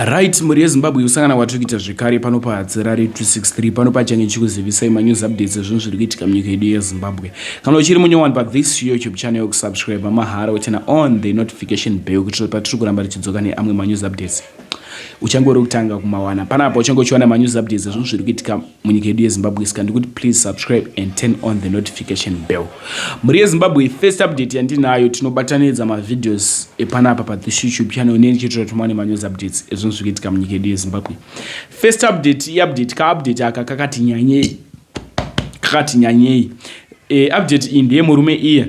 Right, mhuri yeZimbabwe kusangana kwatiri kuita zvekare pano paHadzirare 263 pano pachange chikuzivisai manews updates ezvinhu zviri kuitika munyika yedu yeZimbabwe. Kana uchiri munyowani pa this YouTube channel yokusubscribe mahara wochena on the notification bell kuti patiri kuramba tichidzoka neamwe manews updates uchange uri kutanga kumawana panapa uchange uchiwana manews updates ezvinhu zviri kuitika munyika yedu yezimbabwe sika ndikuti please subscribe and turn on the notification bell mhuri yezimbabwe first update yandinayo tinobatanidza mavideos epanapa pathish youtube channel neni chitira tumane manews updates ezvinhu zviri kuitika munyika yedu yezimbabwe first update iupdate kaupdate aka kakati nyanyei kakati nyanyei e, update iyi ndeyemurume iye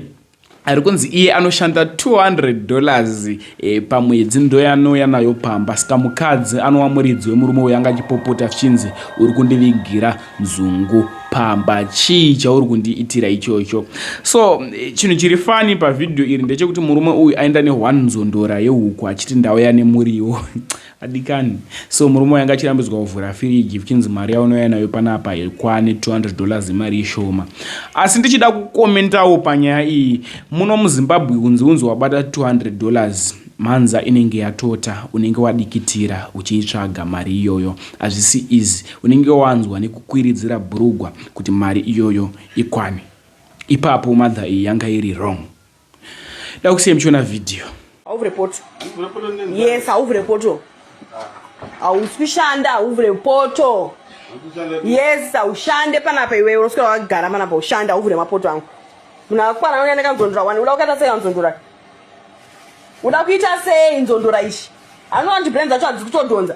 ari kunzi iye anoshanda 200 dollars e, pamwedzi ndoyanouya nayo pamba saka mukadzi anowa muridzi wemurume uyo anga achipopota zvichinzi uri kundivigira nzungu pamba chii chauri kundiitira ichocho so eh, chinhu chiri fani pavhidhiyo iri ndechekuti murume uyu aenda ne1 nzondora yehuku achiti ndauya nemuriwo Adikani. So murume uyu anga achirambidzwa kuvhura firiji kuchinzi mari yaunouya nayo panapa haikwane 200 dollars imari ishoma. Asi ndichida kukomentawo panyaya iyi, muno muZimbabwe kunzi unzi wabata 200 dollars mhanza inenge yatota unenge wadikitira uchiitsvaga mari iyoyo hazvisi easy unenge wanzwa nekukwiridzira bhurugwa kuti mari iyoyo ikwane ipapo mother iyi yanga iri wrong Dakusiya mchiona video. Hauvhure poto. Yes, hauvhure poto. Hauswi shanda, hauvhure poto. Yes, haushande panapa iwe unoswera wakagara panapa ushanda hauvhure mapoto angu. Munhu akwana uya nekanzondora wani uda kukaita sei kanzondora? Uda kuita sei nzondora ishi? Anowanti brand dzacho hadzikutodhonza.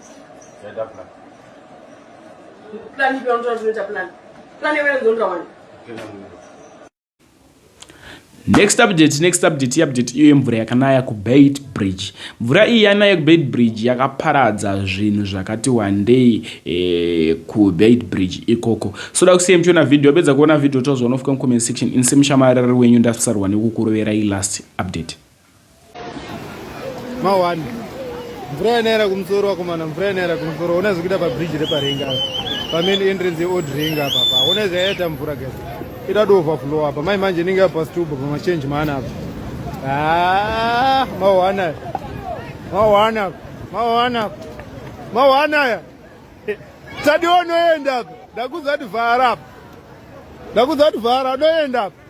Zvaita plan. Plan ipi yaunotanga kuita plan? Plan yewe nzonda wani? Kena mwe. Next update, next update, update iyo yemvura yakanaya kuBait Bridge. Mvura iyi yanaya kuBait Bridge yakaparadza zvinhu zvakati wandei eh, kuBait Bridge ikoko. So da kusiya mchiona video, wapedza kuona video tozoona ufuka mucomment section. Inse mushamarari wenyu ndasarwa nekukuroverai last update. mawani mvura yanaera kumusoro wakomana mvura yanaera kumusoro ona zvikuita pabridge reparing apa pamain entrance yeold ring apa pa ona zvayaita mvura guys ita dooverflow apa mai manje inenge yapastuba pamachange maana apa ah, mawana mawana mawana mawana ya tadionoenda apa ndakuzati vhara apa ndakuzati vhara anoenda apa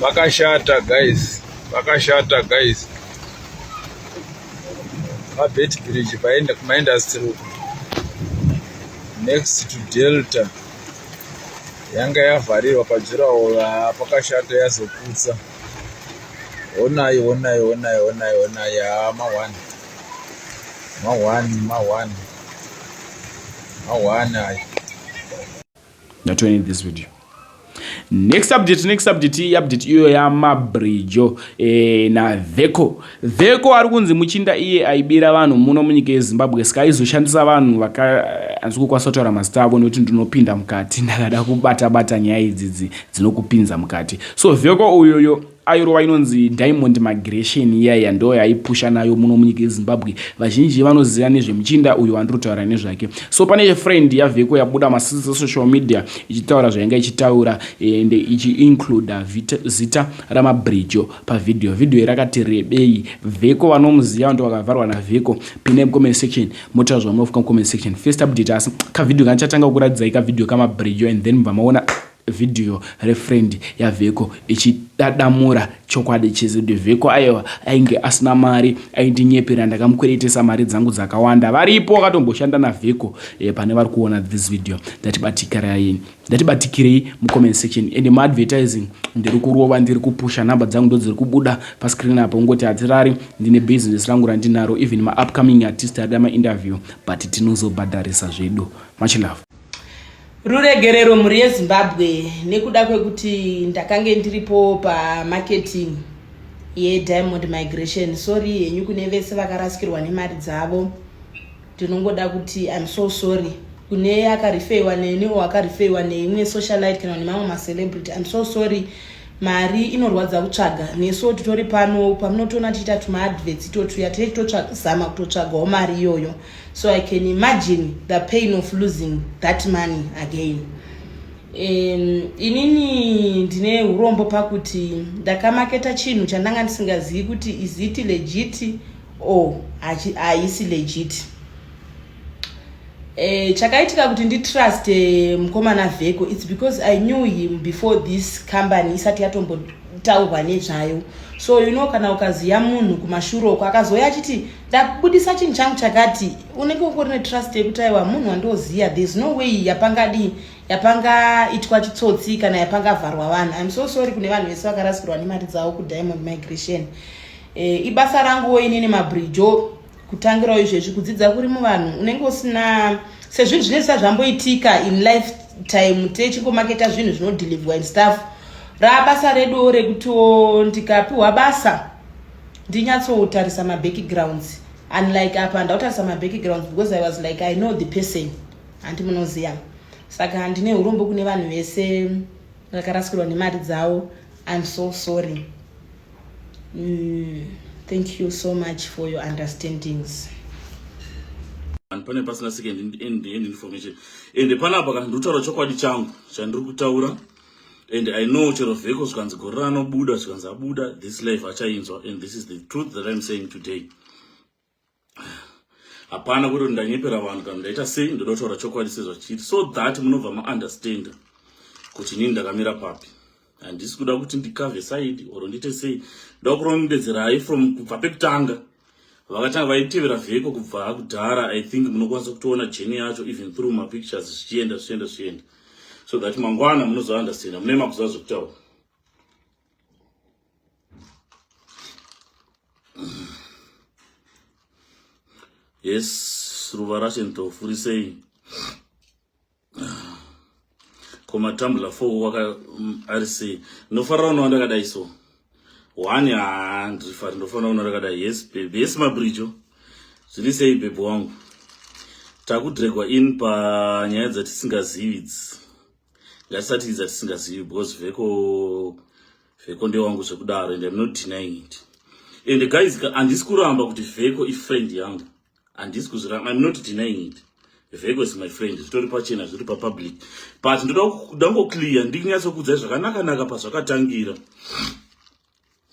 vakashata guys vakashata guys mabet bridge paenda kumaindustry uko next to delta yanga yavharirwa pajurawo pakashata yazoputsa Honai, honai, honai, honai, honai, haa mahwani. Mahwani, mahwani. Mahwani ayo. Not to end this video. Next update, next update, update iyo yamabridge eh, naVeco. Vheko ari kunzi muchinda iye aibira vanhu muno munyika yeZimbabwe saka aizoshandisa vanhu vaka hanzi kukwanisa kutaura mazita avo nekuti ndinopinda mukati ndakada kubata bata nyaya idzidzi dzinokupinza mukati so vheko uyoyo airova inonzi diamond migration iyaiya ndo yaipusha nayo muno munyika yezimbabwe vazhinji vanoziva nezvemuchinda uyo andiri kutaura nezvake so pane friend yavheko yabuda masisi esocial media ichitaura zvainge ichitaura ende ichiincluda zita ramabridjo Pavhidhiyo, vhidhiyo rakati rebei. Vheko vanomuziva vanoti wakavharwa navheko. Pinai mucomment section motaura zvamunofunga mucomment section. First update asi kavhidhiyo kanichatanga kukuratidzai kavhidhiyo kamabridge and then mubva maona vhidhiyo refriend yavheko ichidadamura chokwadi chese kuti vheko aiwa ainge asina mari aindinyepera ndakamukweretesa mari dzangu dzakawanda varipo vakatomboshanda navheko e, eh, pane vari kuona this video ndati batikiraini ndatibatikirei mucomment section and maadvertising ndiri kurova ndiri kupusha number dzangu ndodziri kubuda pascreen apa ungoti hatirari ndine business rangu randinaro even maupcoming artist arida mainterview but tinozobhadharisa zvedu much love ruregerero mhuri yezimbabwe nekuda kwekuti ndakange ndiripo pamarketing yediamond migration sorry henyu kune vese vakarasikirwa nemari dzavo ndinongoda kuti im so sorry kune akarifeiwa neni o akarifeiwa neimwe socialite kana nemamwe macelebrity im so sorry mari inorwadza kutsvaga nesuo titori pano pamunotoona tichiita tumaadverts itotuya tee titozama kutotsvagawo mari iyoyo so i can imagine the pain of losing that money again um, inini ndine urombo pakuti ndakamaketa chinhu chandanga ndisingazivi kuti is it legit oh haisi legit eh, chakaitika kuti nditrust eh, mukomana vheko its because i knew him before this company isati yatombotaurwa nezvayo so you know kana ukaziva munhu kumashuro uko akazouya achiti ndabudisa chinhu changu chakati unenge ungori netrust yekuti aiwa munhu wandioziva thereis no way yapangadii yapangaitwa chitsotsi kana yapangavharwa vanhu im so sorry kune vanhu vese vakarasikirwa nemari dzavo kudiamond migration e, ibasa ranguwo inini mabrijo kutangirawo izvezvi kudzidza kuri muvanhu unenge usina sezvinhu zvine zvisati zvamboitika in life time techingomaketa zvinhu zvinodeliverwa and stuff rabasa reduwo rekutiwo ndikapiwa basa ndinyatsotarisa mabackgrounds unlike apa ndautarisa mabackgrounds because i was like i know the person hanti munoziva saka handine urombo kune vanhu vese vakarasikirwa nemari dzavo im so sorry Mm, thank you so much for your understandings. And pane pasina second end, end information ende panapa kana ndikutaura chokwadi changu chandiri kutaura and i know chero vheko zvikanzi gore ranobuda zvikanzi abuda this life achainzwa and this is the truth that i'm saying today hapana kuti ndanyepera vanhu kana ndaita sei ndoda kutaura chokwadi sezvachiri so that munobva maunderstanda kuti nini ndakamira papi handisi kuda kuti ndikave saidi or ndiite sei ndoda kurondedzerai from kubva pekutanga vakatanga vaitevera vheko kubva kudhara i think munokwanisa kutoona jeni yacho even through mapictures zvichienda zvichienda zvichienda so that mangwana munozounderstanda mune makuziva zvekutaura yes ruva racho nditofurisei komatambula fo waka mm, ari sei ndofarira unowa ndakadai so one haa ndirifari ndofanira kuona ndakadai yes bebe yes mabrijo zviri sei bebe wangu takudregwa in panyaya dzatisingazivi idzi ngatisatiidza tisingazivi because veko veko ndewangu zvekudaro and im not denying it and guys handisi kuramba kuti veko ifriend yangu handisi kuzviramba im not denying it veko is my friend zvitori pachena zviri papublic but ndoda kudangoclear ndikunyatsokuudzai zvakanakanaka pazvakatangira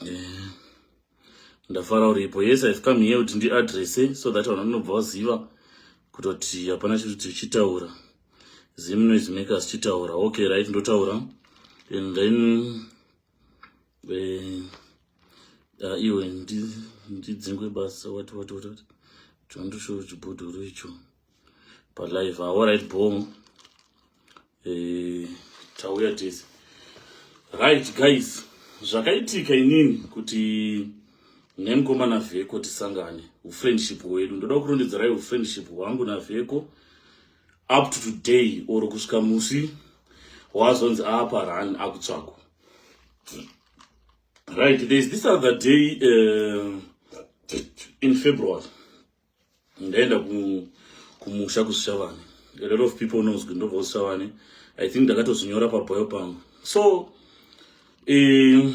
eh, ndafara uripo yes ive come here kuti ndiadresse so that vanhu vanobva vaziva kutoti hapana chiri kuti chitaura zim noise makers chitaura okay right ndotaura and then eh, ah, iwe ndidzingwe basa wati wati wati wati chondoshowo chibhodhoro icho palive aorit bom eh, tauya tese right guys zvakaitika inini kuti nemkoma navheko tisangane ufriendship hwedu ndoda kurondedzerai ufriendship hwangu navheko up to today or kusvika musi wazonzi aapa run akutsvakwa right thereis this other day uh, in february ndaenda kumusha kushavani a lot of people knows kuti ndobva kushavani i think ndakatozvinyora pabhoyo pangu so eh,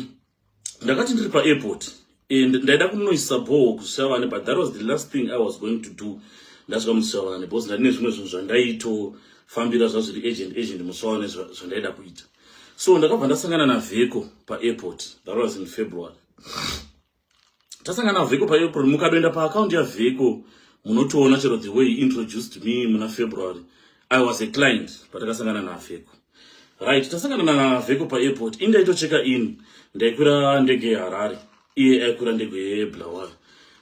ndakati ndiri paairport and ndaida kunoisa bhoho kushavani but that was the last thing i was going to do ndasvika mushavani because ndandine zvimwe zvinhu zvandaitofambira zvazviri agent agent mushavani zvandaida kuita so ndakabva ndasangana navheko paairport that was in february tasangana vhiko paapril mukadoenda paaccount yavhiko munotoona chero the way introduced me muna february i was a client patakasangana navhiko right tasangana navhiko paairport in ndaitocheka in ndaikwira ndege yeharare iye aikwira ndege yeblawayo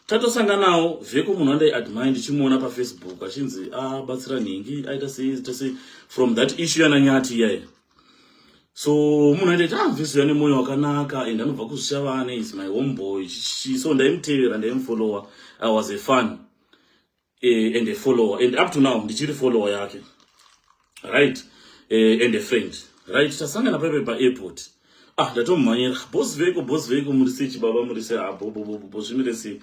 tatosanganawo vhiko munhu andaiadmire ndichimuona pafacebook achinzi abatsira ah, nhingi aita sei from that issue yananyati iyaye so munhu aita kuti amvisiya nemoyo wakanaka and anobva kuzvishavane is my home boy so ndaimutevera ndaimufollower i was a fun uh, and a follower and up to now ndichiri follower yake right uh, and a friend right tasangana paipe paairport ah ndatomumhanyira bos veko bos veko muri sei chibaba muri sei abobobobo ah, zvimire sei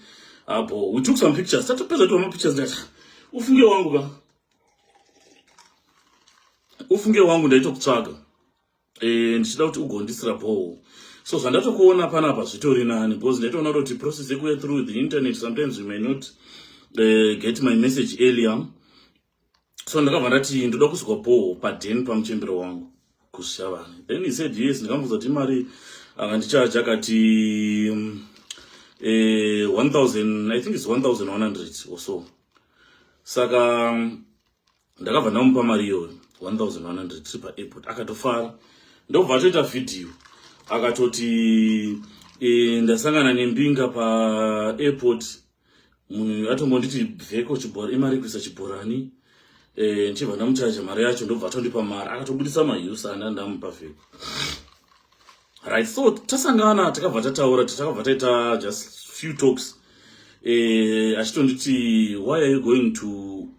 abo ah, we took some pictures tatopedza tova mapictures ndati ufunge wangu ka ufunge wangu ndaitokutsvaga e, ndichida kuti ugondisira bhoo so zvandatokuona panapa zvitori nani because ndaitoona kuti process yekuya through the internet sometimes you may not uh, get my message earlier so ndakabva ndati ndoda kuzwa bhoo paden pamuchembero wangu kusha vanhu then he said yes ndikamuudza kuti mari akandichaja akati mm, eh, 1000 i think its 1100 or so saka mm, ndakabva ndamupa mari iyoyo 1100 tiri paairport akatofara ndobva atoita vhidhiyo akatoti e, ndasangana nembinga paairport munhu atombonditi bveko chibhora imari kuisa chibhorani eh, ndichibva ndamuchaja mari yacho ndobva atondipa mari akatobudisa mahiusa anda ndamupa vheko right so tasangana takabva tataura takabva taita just few talks eh, achitonditi why are you going to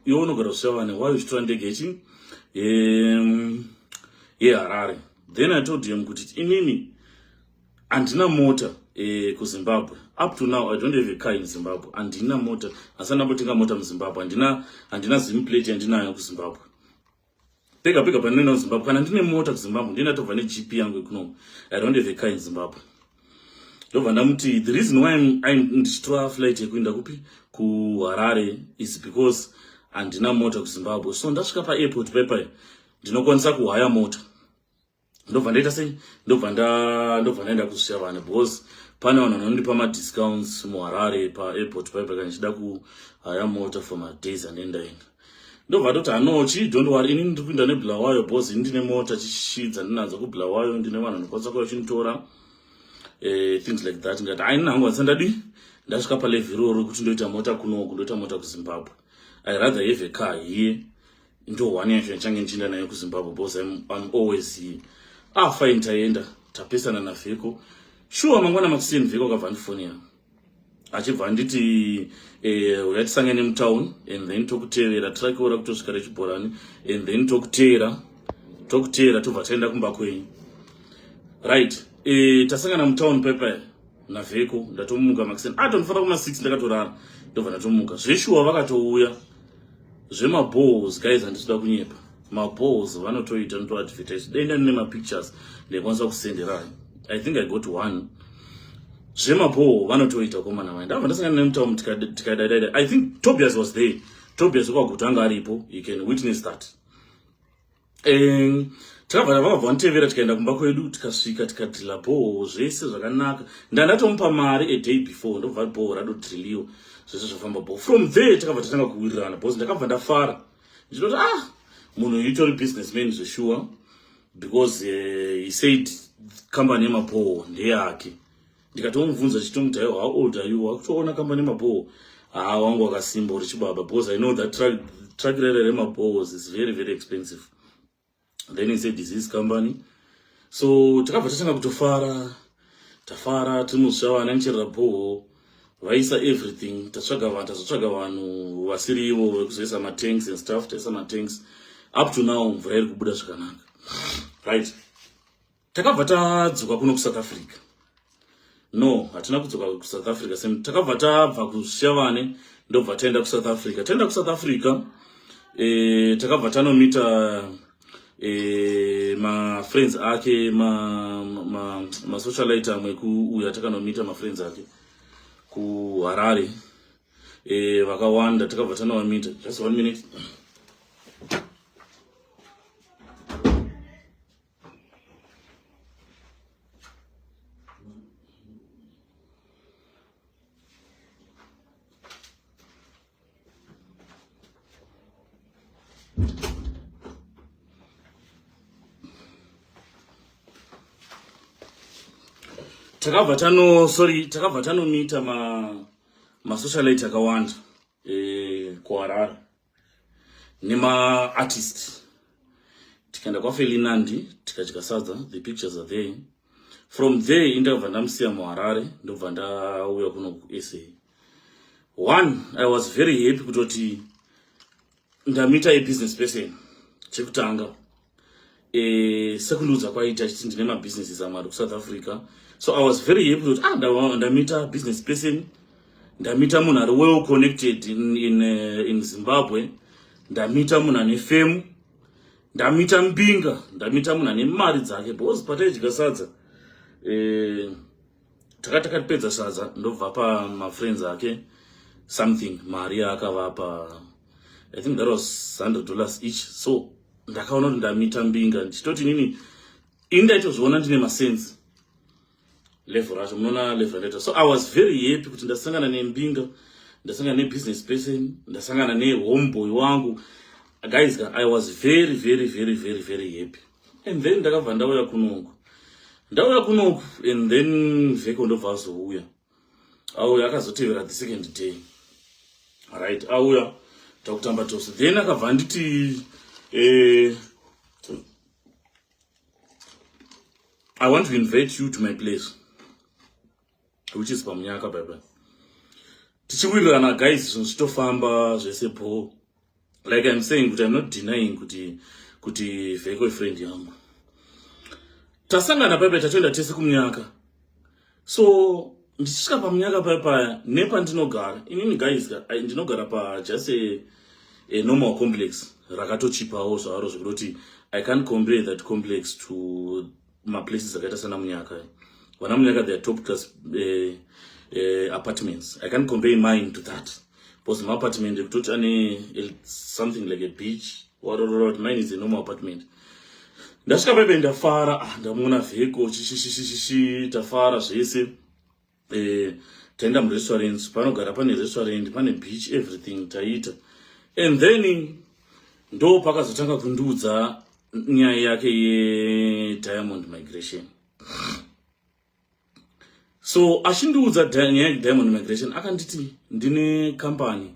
iwe unogara kushavane why uchitora ndege yechi yeharare then i told him kuti inini handina mota eh, kuzimbabwe up to now i don't have a car in zimbabwe handina mota asi andambotenga mota muzimbabwe handina handina zimplate yandinayo kuzimbabwe pega pega pandinoenda kuzimbabwe kana ndine mota kuzimbabwe ndie ndatobva negp yangu ekunomu i don't have a car in zimbabwe ndobva ndamuti the reason why ndichitora flight yekuenda kupi kuharare is because handina mota kuzimbabwe so ndasvika paairport paipai ndinokwanisa kuhaya mota ndobva ndaita sei ndobva nda ndobva ndaenda kusiya vana because pane vanhu vanondipa madiscounts muharare paairport paipa kana ndichida kuhaya mota for madays ane ndaenda ndobva ndoti hanochi don't worry ini ndiri kuinda nebulawayo because ini ndine mota chishi dzandinadzo kubulawayo ndine vanhu vanokwanisa kuya vachinditora eh, things like that ndikati aini nangu vanisa ndadi ndasvika palevhi iroro kuti ndoita mota kunoko ndoita mota kuzimbabwe i rather have a car here into one yacho yachange ndichienda nayo kuzimbabwe because I'm, I'm always here ah fine taenda tapesana navheko shuwa mangwana makuseni vheko akabva andifonera achibva anditi eh, uya tisangane mutown and then tokutevera tirakiora kutosvika rechibhorani and then tokuteera tokuteera tobva taenda kumba kwenyu right eh, tasangana mutown pepa navheko ndatomuka makuseni ah tondifanira kuma six ndakatorara ndobva ndatomuka zveshuwa vakatouya zvemaballs guys handisi kuda kunyepa maballs vanotoita notoadvertise dai ndani nemapictures ndaikwanisa kusenderai i think i got one zvemaballs vanotoita komana vai ndava ndasangana nemutamu tikadadaida i think tobias was there tobias wekwaguta anga aripo he can witness that um takabva vakabva vanotevera tikaenda kumba kwedu tikasvika tikadrilla bhoho zvese zvakanaka ndandatomupa mari aday before ndobva bhoho radodrilliwa zvese zvafamba bhoho from there takabva tatanga kuwirirana because ndakabva ndafara ndinoti ah munhu uyu utori business man zveshuwa because uh, he said company yemabhoho ndeyake ndikatomubvunza chitomut aiwa how old are you wakutoona kamba nemabhoo haa wangu wakasimba uri chibaba because i know that track, track rere remabhoos is very very expensive then he said disease company so takabva tatanga kutofara tafara tinosva vana nicherera bhoho vaisa everything tatsvaga vanhu tazotsvaga vanhu vasiri ivo vekuzoisa matanks and stuff taisa matanks up to now mvura iri kubuda zvakanaka right Takabva tadzoka kuno kuSouth Africa. No, hatina kudzoka kuSouth Africa same. Takabva tabva kuShavane ndobva taenda kuSouth Africa. Taenda kuSouth Africa eh takabva tanomita eh ma friends ake ma ma, ma socialite amwe kuuya takanomita ma friends ake ku Harare. Eh vakawanda takabva tanovamita. Just one minute. takabva tano sorry takabva tanomita ma masocialite akawanda eh, kuharare nemaartist tikaenda kwafelinandi tikadya sadza the pictures are there from there indakabva ndamusiya muharare ndobva ndauya kuno kusa one i was very happy kutoti ndamita ibusiness person chekutanga eh, sekundiudza kwaita achiti ndine mabusinesses amwari kusouth africa so i was very happy kuti ah ndamita business person ndamita munhu ari well connected in, in, uh, in zimbabwe ndamita munhu ane femu ndamita mbinga ndamita munhu ane mari dzake because pataidya sadza eh, takati takapedza sadza ndobva pa mafriends ake something mari yaakavapa i think that was 100 dollars each so ndakaona kuti ndamita mbinga ndichitoti nini ini ndaitozviona ndine masense level racho munoona level racho so i was very happy kuti ndasangana nembinga ndasangana nebusiness person ndasangana nehomeboy wangu guys i was very very very very very happy and then ndakabva ndauya kunoku ndauya kunoku and then vheko ndobva azouya auya akazotevera the second day right auya takutamba tose then akabva anditi eh, i want to invite you to my place which is pamunyaka baibai tichiwirirana guys zvinhu zvitofamba zvese bho like im saying kuti im not denying kuti kuti vheko ifriend yangu tasangana paipai tatoenda tese kumunyaka so ndichisvika pamunyaka paya paya nepandinogara inini guys ndinogara pajust a normal complex rakatochipawo zvaro zvekutoti i can't compare that complex to maplaces akaita sana munyaka vana munyaka their top class uh, uh, apartments i can't compare mine to that because my apartment ekutoti ane something like a beach warororot mine is a normal apartment ndasvika paibe ndafara ah, ndamuona vheko chishishishishi tafara zvese eh, taenda murestaurant panogara pane restaurant pane beach everything taiita and then ndo pakazotanga kundiudza nyaya yake yediamond migration so achindiudza nyaya yediamond migration akanditi ndine kambani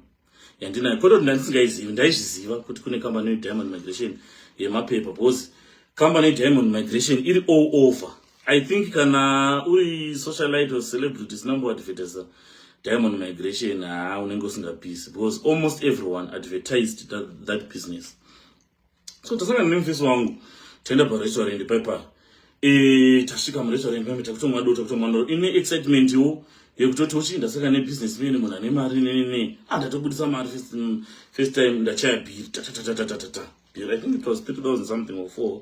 yandinayo kwete kuti ndandisingaizivi ndaizviziva kuti kune kambani yediamond migration yemapepa because kambani yediamond migration iri all over i think kana uri socialite or celebrity sina mboadvertisa diamond migration haa unenge usingapisi because almost everyone advertised that, that business so tasangana nemufesi wangu taenda parestaurant paipa e, tasvika murestaurant mame takutomwa dota kutomwa ndoro ine excitement wo yekutoti uchi ndasaka nebusiness mene munhu ane mari nenene ah ndatobudisa mari first, mm, first time ndachaya bhiri tatatatatata bhiri i think it was 3000 something or four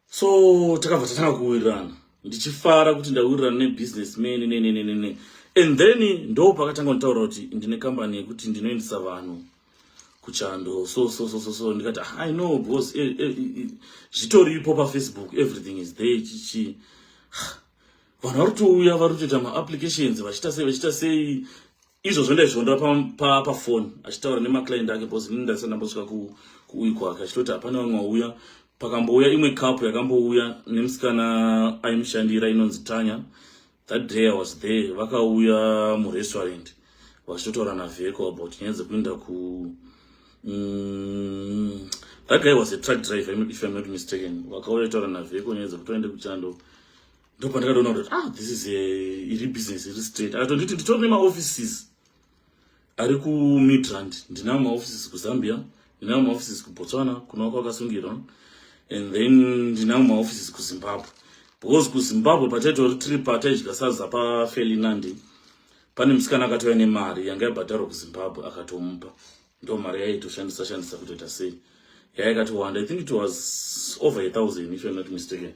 so takabva tatanga kuwirirana ndichifara kuti ndawirirana nebusiness mene nenenenene and then ndo pakatanga kunditaura kuti ndine kambani yekuti ndinoendesa vanhu kuchando so so so so so ndikati ah, i know because eh, eh, eh, zvitoripo pafacebook everything is there chichi vanhu vari kutouya vari kutoita maapplications vachiita sei vachiita sei izvo zvendaizvionera pafoni pa, pa achitaura nemaclient ake because ini ndasati ndambosvika kuuyi kwake achitoti hapana vamwe wauya pakambouya imwe cup yakambouya nemusikana aimushandira inonzi tanya that day i was there vakauya murestaurant vachitotaura navheko about nyaya dzekuenda ku mm, that guy was a truck driver if i'm not mistaken vakauya taura navheko nyaya dzekutoende kuchando ndopandakatoona kuti ah this is a iri business iri straight akatonditi nditori nemaoffices ari kumidrand ndinawo maoffices kuzambia ndinawo maoffices kubotswana kunova kwakasungirwa and then ndinawo maoffices kuzimbabwe because kuzimbabwe pataitori tiri pataidya saza pafelinandi pane musikana akatouya nemari yanga yabhadharwa kuzimbabwe akatomupa ndo mari yaitoshandisa shandisa kutoita sei yaikatowanda i think it was over a thousand if you're not mistaken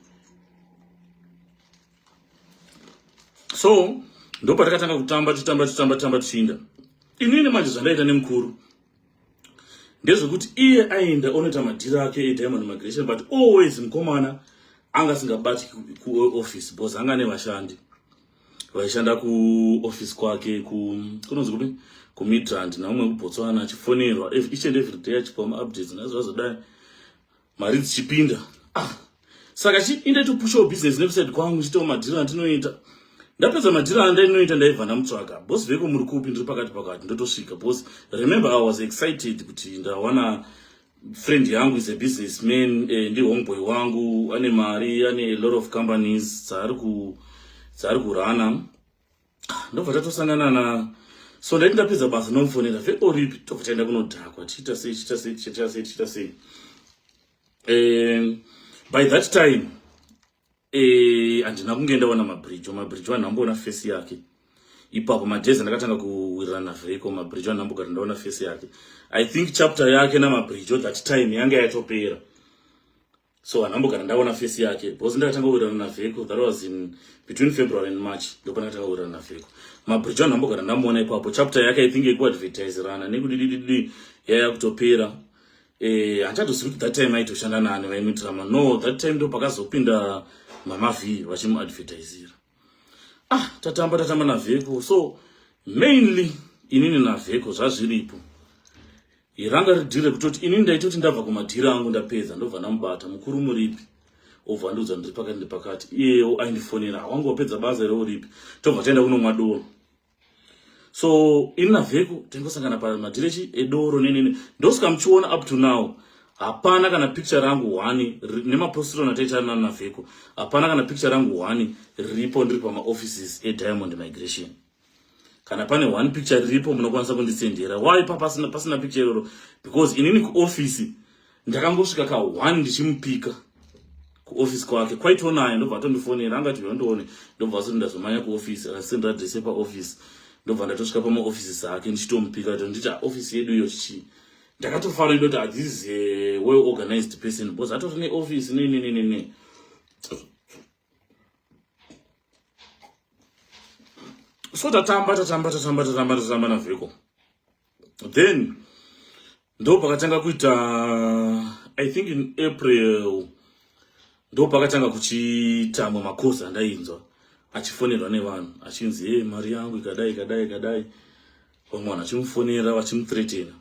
so ndopatakatanga kutamba tichitamba tichitamba tichitamba tichiinda inini manje zvandaita nemukuru ndezvekuti iye aenda onoita madhiri ake ediamond migration but always mukomana anga asingabati kuoffice bcause anga ane vashandi vaishanda kuoffice kwake kunonzi kupi kumidrand naumwe kubotswana achifonerwa each and every day achipiwa maupdates nazvazodai mari dzichipinda ah saka chi inde to push your business nekuside kwangu chitawo madhira andinoita ndapedza madhira andainoita ndaibva ndamutsvaga boss veko muri kupi ndiri pakati pakati ndotosvika boss remember i was excited kuti ndawana friend yangu is a business man eh, ndi homeboy wangu ane mari ane a lot of companies dzaari ku dzaari kurana ndobva tatosangana na so ndaiti ndapedza basa ndomufonera veoripi tobva taenda kunodhakwa tichiita sei tichiita sei tichiita sei tichiita sei um by that time eh, handina kunge ndaona mabridge mabridge vanhu amboona fesi yake ipapo madhezi ndakatanga kuwirirana veko mabridge vanhu ambogara ndaona fesi yake i think chapter yake namabridge that time yange yatopera so handambogara ndaona face yake because ndakatanga kuwirirana navheko that was in between february and march ndopa ndakatanga kuwirirana navheko mabridge anhu ambogara ndamuona ipapo chapter yake i think yekuadvertiserana nekudidididi yaya kutopera eh, handichatozivi kuti that time aitoshanda nani vaimuitirama no that time ndo pakazopinda mama v vachimuadvertisira ah tatamba tatamba navheko so mainly inini navheko zvazviripo iranga ridhire kutoti inini ndaitoti ndabva kumadhiri angu ndapedza ndobva ndamubata mukuru muripi obva andiudza ndiri pakati ndipakati iyewo aindifonera wangu wapedza basa ere uripi tobva taenda kunomwa doro so ini navheku tingosangana pamadirechi edoro nenene ndosvika muchiona up to now hapana kana picture rangu hwani nemapostiro nataita nani navheku hapana kana picture rangu hwani riripo ndiri pamaoffices ediamond migration kana pane one picture riripo munokwanisa kundisendera why pa pasina, pasina picture iroro because inini kuoffice ndakangosvika ka one ndichimupika kuoffice kwake kwaitoo naye ndobva atondifonera anga tiva ndione ndobva azoti ndazomanya kuoffice akasendera adress yepaoffice ndobva ndatosvika pamaoffices ake ndichitomupika to nditi office yedu iyo chii ndakatofara ndoti ah, this is a eh, well organized person because atori neoffice nenenenene so tatamba tatamba tatamba tatamba tatamba navheko then ndo pakatanga kuita i think in april ndo pakatanga kuchitamwa makosi andainzwa achifonerwa nevanhu achinzi hey, mari yangu ikadai ikadai ikadai vamwe vanhu vachimufonera vachimuthretena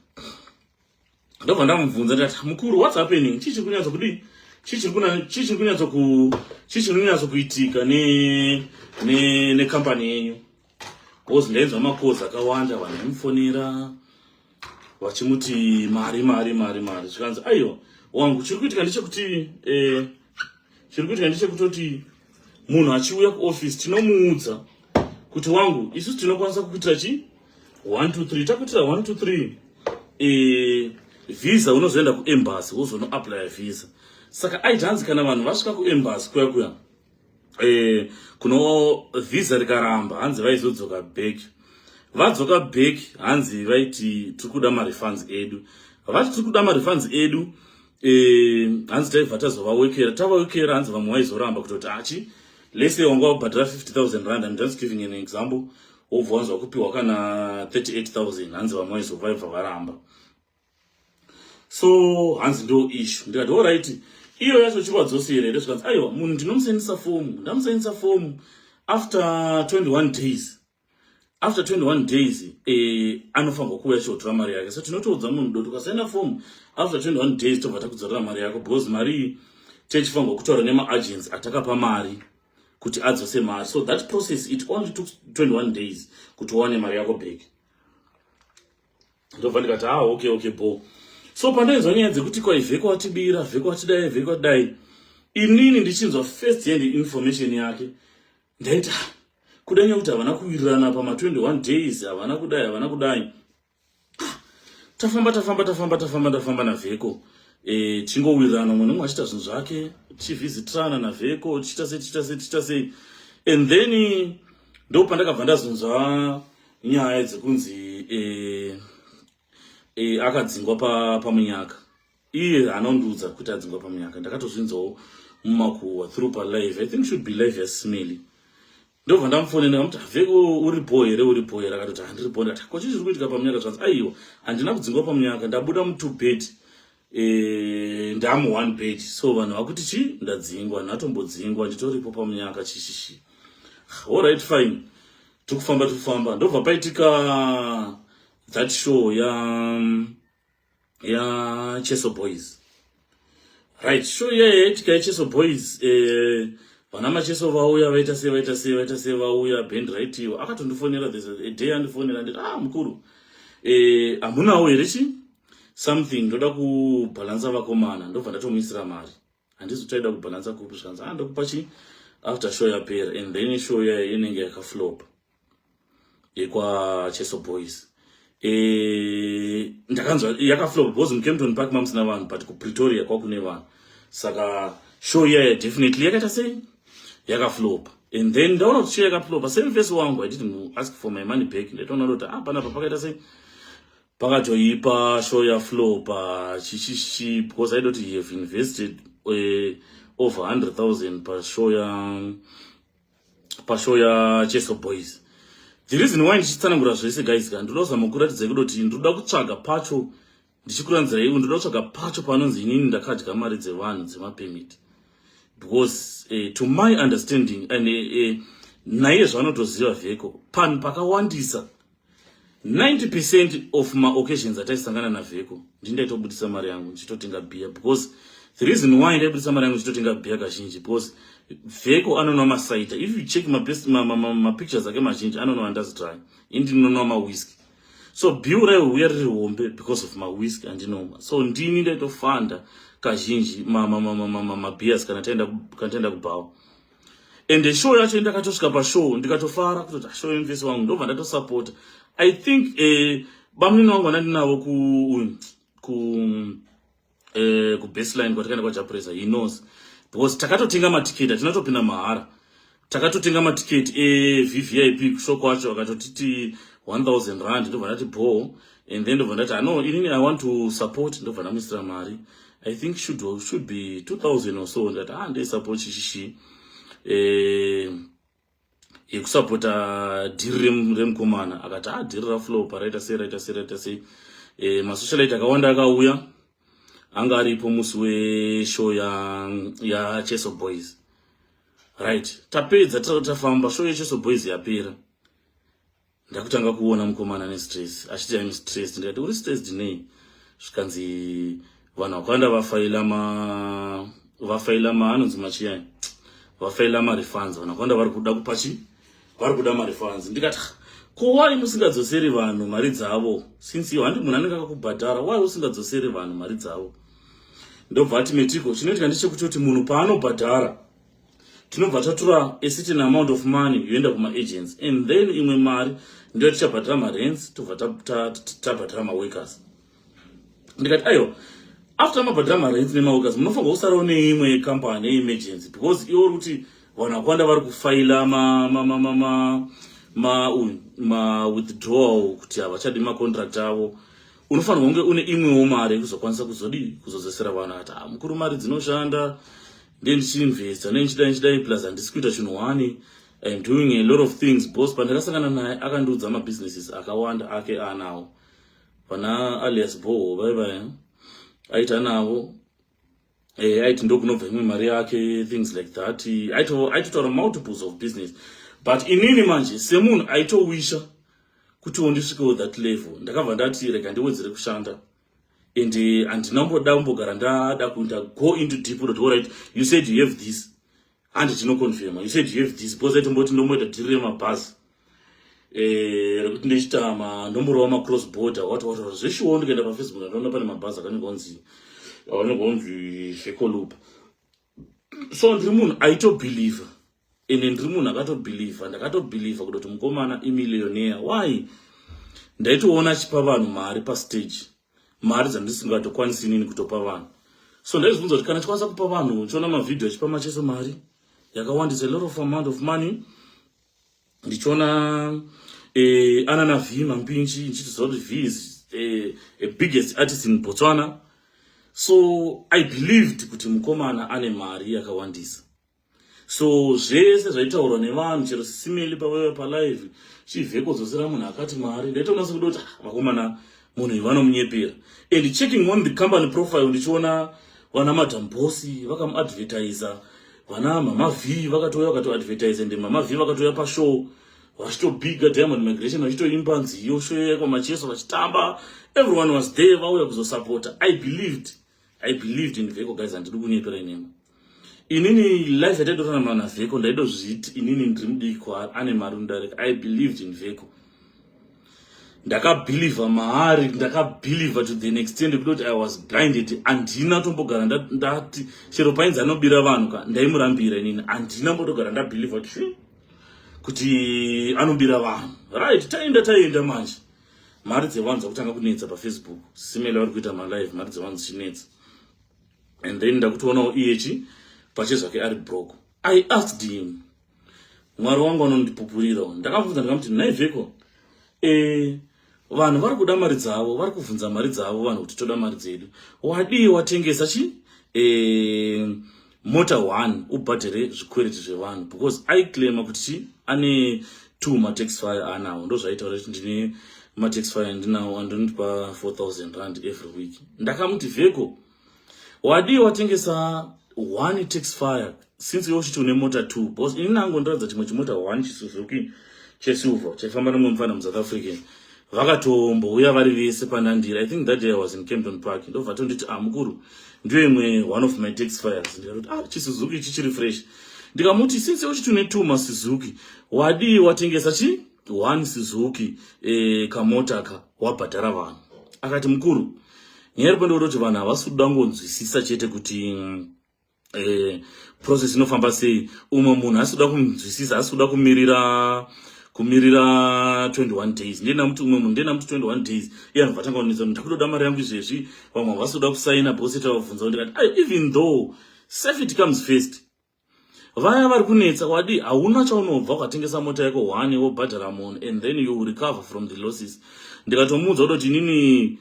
ndobva ndamubvunza ndati mukuru whats happening chii chiri kunyatso kudii chii chiri kuna chii chiri kunyatso ku chii chiri kunyatso kuitika ne ne ne company yenyu because ndainzwa makozi akawanda vanhu vaimufonera vachimuti mari mari mari mari zvikanzi aiwa wangu chiri kuitika ndechekuti eh, chiri kuitika ndechekutoti munhu achiuya kuoffice tinomuudza kuti wangu isusu tinokwanisa kukuitira chi 1 2 3 takuitira 1 2 3 eh visa unozoenda kuembassy wozonoaplya visa saka aiti hanzi kana vanhu vasvika kuembassy kuya kuya eh kuno visa rikaramba hanzi vaizodzoka back vadzoka back hanzi vaiti tiri kuda marefunds edu vati tiri kuda marefunds edu eh, hanzi taibva tazovawekera tavawekera hanzi vamwe waizoramba kutoti achi ah, lese wanga wabhadhara 50000 rand am just giving an example wobva wanzwa kupiwa kana 38000 hanzi vamwe waizovaiva varamba so hanzi ndo ishu ndikati oright iyo yacho chivadzosere here zvikanzi aiwa munhu ndinomusendisa fomu ndamusendisa fomu after 21 days after 21 days eh, anofanirwa kuuya chihotora mari yake so tinotoudza munhu doti ukasaina fomu after 21 days tobva takudzorera mari yako because mari iyi techifanirwa kutaura nemaagency atakapa mari kuti adzose mari so that process it only took 21 days kuti uwane mari yako back ndobva ndikati ah okay okay bo so pandoinzwa nyaya dzekuti kwai vheko watibira vheko watidai vheko watidai inini ndichinzwa first hand information yake ndaita kuda nyaya kuti havana kuwirirana pama 21 days havana kudai havana kudai ah, tafamba tafamba tafamba tafamba tafamba navheko e, tingowirirana umwe nomwe achiita zvinhu zvake tichivhizitirana navheko tichiita sei tichiita sei tichiita sei and then ndo pandakabva ndazonzwa nyaya dzekunzi e, e, akadzingwa pamunyaka pa iye anondiudza kuti adzingwa pamunyaka ndakatozvinzawo mumakuhwa through palive i think should be live yasmely ndobva ndamufonena kamuti haveko uri bho here uri bho here akatoti handiri bho ndati kochi zviri kuitika pamunyaka zvanzi aiwa handina kudzingwa pamunyaka ndabuda mutwo bed eh, ndamu one bed so vanhu vakuti chii ndadzingwa hanhu atombodzingwa nditoripo pamunyaka chishishi all right fine tikufamba tikufamba ndobva paitika that show ya um, ya Cheso Boys. Right, show ye tika Cheso Boys eh vana macheso vauya vaita sei vaita sei vaita sei vauya band right iwo akatondifonera this a day andifonera nditi ah mukuru eh hamunawo here chi something ndoda kubalansa vakomana ndobva ndatomuisira mari handizi taida kubhalansa kupi zvikanzi ah ndokupa chi after show yapera and then show yayo inenge yakaflopa yekwacheso boys eh, ndakanzwa yakaflopa because mucampton park mamusina vanhu but kupretoria kwakune vanhu saka show iyayo definitely yakaita sei yakaflopa and then ndaona kuti show yakaflopa same face wangu i didn't ask for my money back ndaitoona kuti ah panapa pakaita sei pakatoipa show ya flow pa chichichi because i don't have invested uh, over 100000 pa show ya pa show ya cheso boys the reason why ndichitsanangura zvese guys ka ndinozama kuratidza kudoti ndinoda kutsvaga pacho ndichikuranzira iwe ndinoda kutsvaga pacho panonzi inini ndakadya mari dzevanhu dzemapemiti because uh, to my understanding and uh, eh, uh, eh, naiye zvaanotoziva vheko panhu pakawandisa 90 percent of ma occasions ataisangana na Veko ndindaitobudisa mari yangu ndichitotenga beer because the reason why ndaibudisa mari yangu ndichitotenga beer kazhinji because Veko anonwa masaita if you check ma best ma, ma, ma, ma pictures ake mazhinji anonwa andazi try indi ndinonwa ma whisky so bill raiuya riri hombe because of ma whisky andinonwa so ndini ndaitofanda kazhinji ma ma ma ma ma, ma, ma beers kana taenda kana taenda kubhawa and show yacho ndakatosvika pashow ndikatofara kutoti ah, show yemvesi wangu ndobva ndatosapota i think eh, bamnini wangu vandandinavo ku ku eh, kubaseline kwatakaenda kwajapresa he knows because takatotenga matiketi atinatopinda mahara takatotenga matiketi evvip eh, kusho kwacho akatotiti 1000 rand ndobva ndati bho and then ndobva ndati ano ah, inini i want to support ndobva ndamuisira mari i think should, should be 2000 or so ndati ah ndaisapo chishishi eh, yekusapota eh, dhiri remukomana akati ah dhiri raflow paraita sei raita sei raita sei eh, masocialite akawanda akauya anga aripo musi weshow yacheso ya boys right tapedza tafamba show yecheso boys yapera ndakutanga kuona mukomana ane stress achiti aim stress ndikati uri stress dinei zvikanzi vanhu vakawanda vafaila ma vafaila ma anonzi machiyai vafaila marefunds vanhu vakawanda vari kuda kupachi vari kuda marefunds ndikati ko wai musingadzoseri vanhu mari dzavo since iyo handi munhu anenge akakubhadhara wai usingadzoseri vanhu mari dzavo ndobva ati metiko chinoitika ndechekutoti munhu paanobhadhara tinobva tatura a certain amount of money yoenda kumaagents and then imwe mari ndiyo tichabhadhira marents tobva tabhadhira maworkers ndikati aiwa after mabhadhira marents nemaworkers munofanirwa kusarawo neimwe yecompany yeemergency because iwo uri kuti vanhu vakwanda vari kufaila mawithdrawal kuti havachadi macontract avo unofanirwa kunge une imwewo mari yekuzokwanisa kuzodii kuzodzosera vanhu ati ah, mukuru mari dzinoshanda ndiye ndichiinvesta ndiye ndichidai ndichidai plus handisi kuita chinhu wani im doing a lot of things bos pandakasangana naye akandiudza mabusinesses akawanda ake aanawo pana alias boho vaivaya aita anavo eh, aiti ndokunobva imwe mari yake things like that aitotaura multiples of business but inini manje semunhu aitowisha kutiwo ndisvikewo that level ndakabva ndati rega ndiwedzere kushanda and uh, handina kumboda kumbogara ndada kuita go into deep rot all right you said you have this handi tinoconfirma you said you have this because aitomboti ndomboita dhiri remabhazi eh, rekuti ndichiita manomboro wamacross border wati wataura zveshuwo ndikaenda pafacebook ndandoona pane mabhazi akanenge onzi akanenge onzi fekolupa so ndiri munhu aitobhilivha ende ndiri munhu akatobhilivha ndakatobhilivha kuda kuti mukomana imillionaire why ndaitoona achipa vanhu mari pastage mari dzandisingatokwanisi inini kutopa vanhu so ndaizvibvunza kuti kana chikwanisa kupa vanhu chiona mavhidhio achipa machese mari yakawandisa a lot of amount of money ndichiona eh, ana na V Mampinji ndichitoziva kuti V is eh, a biggest artist in Botswana so I believed kuti mukomana ane mari yakawandisa so zvese zvaitaurwa nevanhu chero sisimeli pavaiva palive chivheko dzosera munhu akati mari ndaitoona sekuti kuti ah, vakomana munhu uyu vanomunyepera and checking on the company profile ndichiona vana madam bosi vakamuadvertiser vana mama v vakatouya vakatoadvertise and mama v vakatouya pashow vachitobiga diamond migration vachitoimba nziyo show yekwa macheso vachitamba everyone was there vauya kuzosupporta i believed i believed in vheko guys handidi kunyetora inini inini life yataidotanama na vheko ndaidozviti inini ndiri mudiki kwaari ane mari undareka i believed in vheko ndakabhilivha maari ndakabhilivha to the extent kutoti i was blinded handina tombogara ndati chero painzi anobira vanhu ka ndaimurambira inini handina mbotogara ndabhilivha kuti anobira vanhu right taenda taenda manje ta mari dzevanhu dzakutanga kunetsa pafacebook simela vari kuita malive mari dzevanhu dzichinetsa and then ndakutoonawo iyechi pache zvake ari broko i asked him mwari wangu anondipupurira ndakamubvunza ndikamuti naiveko e eh, vanhu vari kuda mari dzavo vari kubvunza mari dzavo vanhu kuti toda mari dzedu wadii watengesa chi e mota one ubhadhere zvikwereti zvevanhu because aiclaima kuti ane two matex fire anawo ndozvaitaura kuti ndine matex fire ndinawo andondipa 4000 rand every week ndakamuti vheko wadii watengesa one tax fire since iwe uchiti une mota two because ini nango ndoratidza chimwe chimota one chisuzuki chesilver chaifamba nomwe mufana musouth african vakatombouya vari vese panandira i think that day i was in campton park ndobva tonditi ah mukuru ndiyo imwe one of my tax fires ndikatoti ah chisuzuki ichi chiri fresh ndikamuti since uchiti une two masuzuki wadii watengesa chi one suzuki e, kamota ka wabhadhara vanhu akati mukuru nyaya iri pandokutoti vanhu havasi kuda ngonzwisisa chete kuti mm, eh, process inofamba sei umwe munhu asi kuda kunzwisisa asi kuda kumirira kumirira 21 days ndiye ndamuti umwe munhu ndiye ndamuti 21 days iye anobva tanga kunetsa kuti ndakutoda mari yangu izvezvi vamwe havasi kuda kusaina bose tavabvunza kuti ndikati ah, even though safety comes first vaya vari kunetsa wadi hauna chaunobva ukatengesa mota yako one wobhadhara munhu and then you recover from the losses ndikatomuudza kutoti inini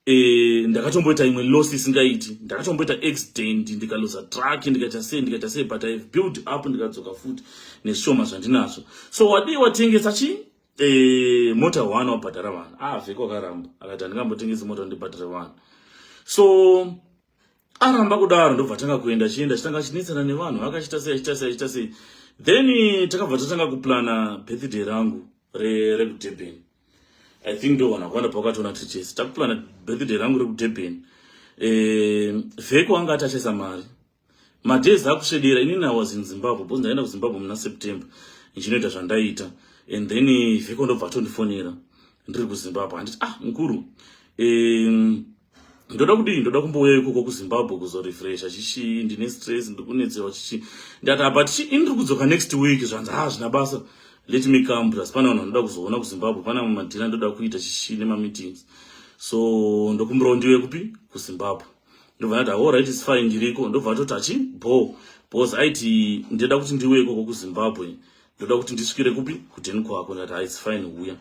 Eh, ndakatomboita imwe loss isingaiti ndakatomboita accident ndikaloza truck ndikaita sei ndikaita sei but ihave build up ndikadzoka futi nezvishoma zvandinazvo so wadii watengesa chii eh, mota one wabhadhara vanhu avheko ah, akaramba akati handingambotengesi mota ndibhadhare vanhu so aramba kudaro ndobva tanga kuenda chienda chitanga chinetsana nevanhu akachita sei achita sei achita sei then takabva tatanga kuplana birthday rangu rekudurban re i think ndovana kwanda pakatona tichese takupurana birthday rangu rekudurban um eh, vheko anga atachesa mari madays akusvedera inini i was in zimbabwe because ndaenda kuzimbabwe muna september ndichinoita zvandaiita and then vheko ndobva atondifonera ndiri kuzimbabwe handiti ah mukuru um ndoda kudii ndoda kumbouya ikoko kuzimbabwe kuzorefresha chichii ndine stress ndiri kunetsewa chichii ndati apa tichi ini ndiri kudzoka next week zvanzi haa ah, zvina basa let me come plus pane vanhu vanoda kuzoona kuzimbabwe pane amwe madhina ndoda kuita chichii nemameetings so ndokumbirawo ndiwe kupi kuzimbabwe ndobva ndati all right is fine ndiriko ndobva atoti achi bho bcause aiti ndoda kuti ndiwe ikoko kuzimbabwe ndoda kuti ndisvikire kupi kudhen kwako ndati haa ah, is fine huya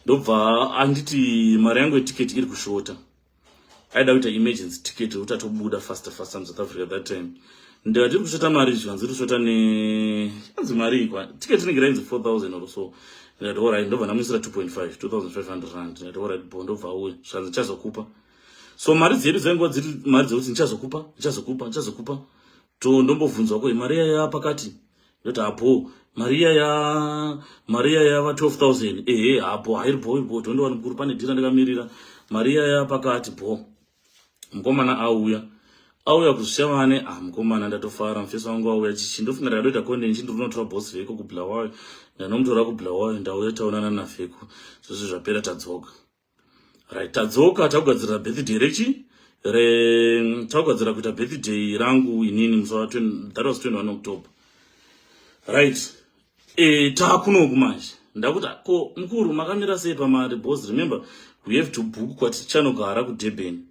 ndobva anditi mari yangu yetiketi iri kushota aida kuita emergency ticket yekuti atobuda faster faster musouth africa that time ndikati iri kushota mari zvikanzi iri kushota ne anzi mari ikwa ticket inenge rainzi 4000 or so ndikati orit ndobva ndamuisira 2.5 2500 rand ndikati orit bo ndobva auya zvikanzi chazokupa so mari dzedu dzainguva dziri mari dzekuti ndichazokupa ndichazokupa ndichazokupa to ndombovhunzwa ko mari iya ya pakati ndoti hapo mari iya ya mari iya ya va 12000 ehe hapo hairi bho bho tondiwa mukuru pane dhira ndikamirira mari iya ya pakati bho mukomana auya auya kuzvisiya vane ah mukomana ndatofara mufesi wangu auya chichi ndofunga ndakatoita konde nchi ndiri kunotora boss veko kublawayo ndanomutora kublawayo ndauya taonana naveko zvese zvapera tadzoka right tadzoka takugadzirira birthday rechi re takugadzirira kuita birthday rangu inini musi wa that was 21 october right e, taakunoku manje ndakuti ko mukuru makamira sei pamari bos remember we have to book kwatichanogara kudurban